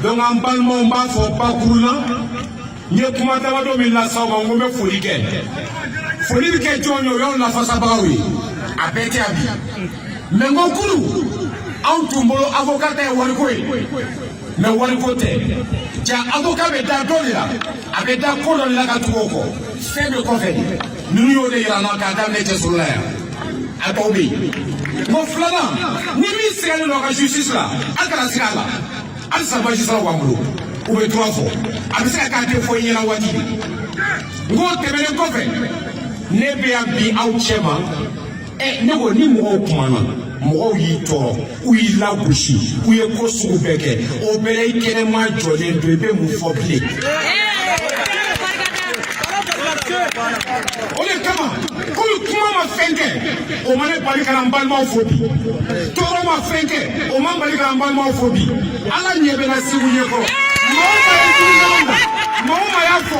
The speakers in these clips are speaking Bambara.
donc an balimaw b'a fɔ bakuru la n ye kuma damadɔ min lase aw ma n ko n bɛ foli kɛ foli bɛ kɛ jɔn ye o y'anw lafasabagaw ye a bɛɛ tɛ yan bi mɛ n ko kunu anw tun bolo avoka ta ye wariko ye mɛ wariko tɛ ja avoka bɛ da dɔ de la a bɛ da ko dɔ de la ka tugu o kɔ fɛn bɛ kɔfɛ de ninnu y'o de yira an na k'a daminɛ cɛsolo la yan a tɔw bɛ yen bon filanan ni min sigalen don a ka justice la a kana siga a la halisa majisiraw b'an bolo u bɛ droit fɔ a bɛ se ka k'a tɛ fɔ i ɲɛna waati n k'o tɛmɛnen kɔfɛ ne bɛ yan bi aw cɛ ma ɛ ne ko ni mɔgɔw kumana mɔgɔw y'i tɔɔrɔ u y'i lagosi u ye ko sugu bɛɛ kɛ o bɛɛ la i kɛnɛma jɔlen don i bɛ mun fɔ bilen o de kama komi kuma ma fɛn kɛ o ma ne bali ka na n balimaw fo bi tɔɔrɔ ma fɛn kɛ o ma n bali ka na n balimaw fo bi ala ɲɛ bɛ na sigi u ɲɛkɔrɔ maa o maa ye jugumanw na maa o maa y'a fɔ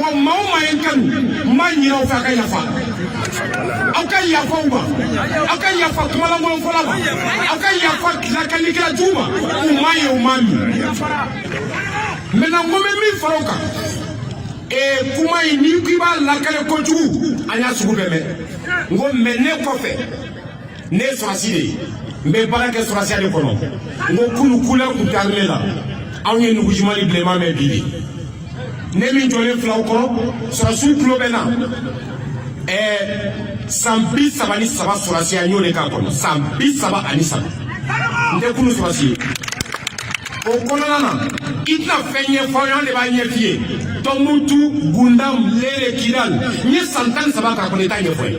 wa maa o maa ye n kanu n b'a ɲin'aw fɛ a ka yafa aw ka yafa u ma aw ka yafa kumalankolonfɔla ma aw ka yafa lakalikɛla jugu ma u m'a ye u m'a mɛn mɛna n ko n bɛ min fara o kan ee kuma in n'i k'i b'a lakale kojugu an y'a sugu bɛɛ mɛn n ko mɛ ne kɔfɛ ne ye sɔrɔsi de ye n bɛ baara kɛ sɔrɔsiya de kɔnɔ n ko kunu couleur ko t'armée la anw ye nugujiman ni bilenman mɛn bi bi ne min jɔlen fil'aw kɔrɔ sɔrɔsiw tulo bɛ na ɛɛ san bi saba ni saba sɔrɔsiya n y'o de k'a kɔnɔ san bi saba ani saba n tɛ kunu sɔrɔsi ye o kɔnɔna na i tɛna fɛn ɲɛfɔ an de b'a ɲɛf'i ye tɔnbutu gundam lere kidal n ye san tan ni saba k'a kɔnɔ i t'a ɲɛfɔ n ye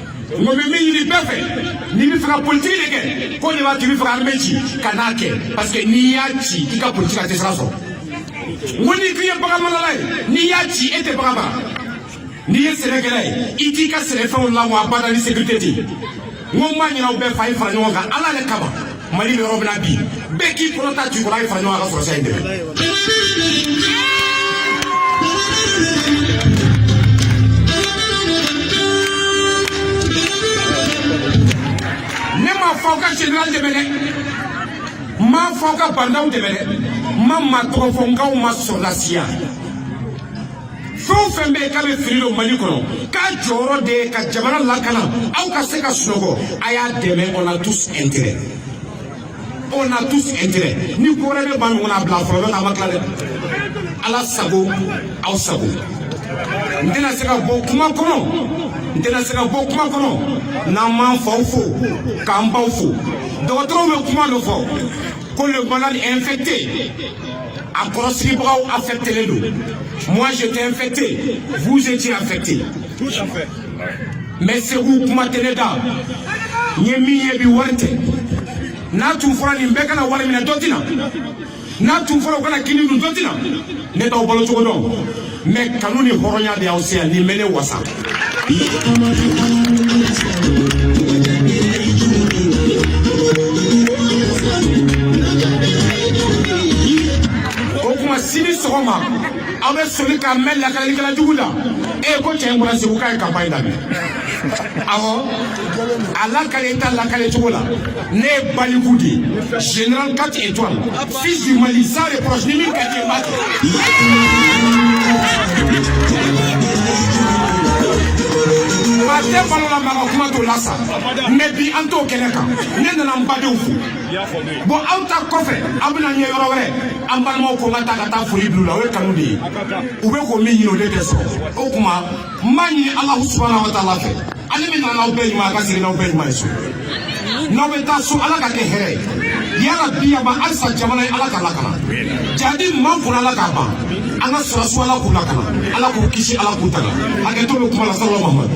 n ko n bɛ min ɲini bɛɛ fɛ n'i bɛ fɛ ka politiki de kɛ k'o de b'a to i bɛ fɛ ka armée ci kan'a kɛ parce que n'i y'a ci i ka politiki a tɛ sira sɔrɔ n ko n'i k'i ye baganmarala ye n'i y'a ci e tɛ bagan mara n'i ye sɛnɛkɛla ye i t'i ka sɛnɛfɛnw lawa abada ni sécurité tɛ yen n ko n b'a ɲin'aw bɛɛ fɛ a ye fara ɲɔgɔn kan ala yɛrɛ kama mali jɔrɔ bɛ n na bi bɛɛ k'i kɔnɔ ta to kɔ a ye fara ɲɔgɔn kan ka sɔrɔsiya in dɛmɛ ne m'a fɔ aw ka general dɛmɛ dɛ n m'a fɔ aw ka commandant dɛmɛ dɛ n ma maa tɔgɔ fɔ n k'aw ma sɔrɔlasiya fɛn o fɛn bɛ yen k'a bɛ fini don mali kɔnɔ k'a jɔyɔrɔ de ye ka jamana lakana aw ka se ka sunɔgɔ a y'a dɛmɛ on a tous intérêt on a tous intérêt ni ko wɛrɛ b'an ɲɔgɔn na a bila fɔlɔ n'o tɛ a ma tila dɛ ala sago aw sago n tɛna se ka bɔ kuma kɔnɔ n tɛna se ka bɔ kuma kɔnɔ n'an m'an faw fo k'an baw fo dɔgɔtɔrɔw bɛ kuma dɔ fɔ ko le malade infecté a kɔrɔsigibagaw affectelen don moi j'étais infecté vous étiez affecté mais segu kuma tɛ ne da n ye min ye bi wari tɛ n'a tun fɔra nin bɛɛ ka na wari minɛ dɔ tɛ na n'a tun fɔra u ka na kini dun dɔ tɛ na ne t'aw balo cogo dɔn mais kanu ni hɔrɔnya de y'aw se yan nin bɛ ne wasa o kuma sini sɔgɔma aw bɛ soli k'a mɛn lakalelikɛla jugu la e ko cɛ in bɔra segu k'a ye kanpaɲi daminɛ awɔ a lakale i ta lakale cogo la ne ye baliku de ye général quatre étoiles Fils du Mali sans reproche ni min ka tɛ balo la maa ka kuma t'o la sa mais bi an t'o kɛnɛ kan ne nana n badenw fo bon aw ta kɔfɛ aw bɛna n ye yɔrɔ wɛrɛ an balimaw ko n ka taa ka taa foli bila u la o ye kanu de ye u bɛ ko min ɲini o de tɛ sɔrɔ o tuma n b'a ɲini alahu subahana wa taala fɛ ale min nana aw bɛɛ ɲuman a ka segin n'aw bɛɛ ɲuman ye so n'aw bɛ taa so ala k'a kɛ hɛrɛ ye yarabi yaba halisa jamana ye ala k'a lakana jahadi min b'an kun ala k'a ban an ka sɔrɔdasiw ala k'u lakana ala k'u kisi ala k'u tanga hakɛto bɛ kuma la salama mamadu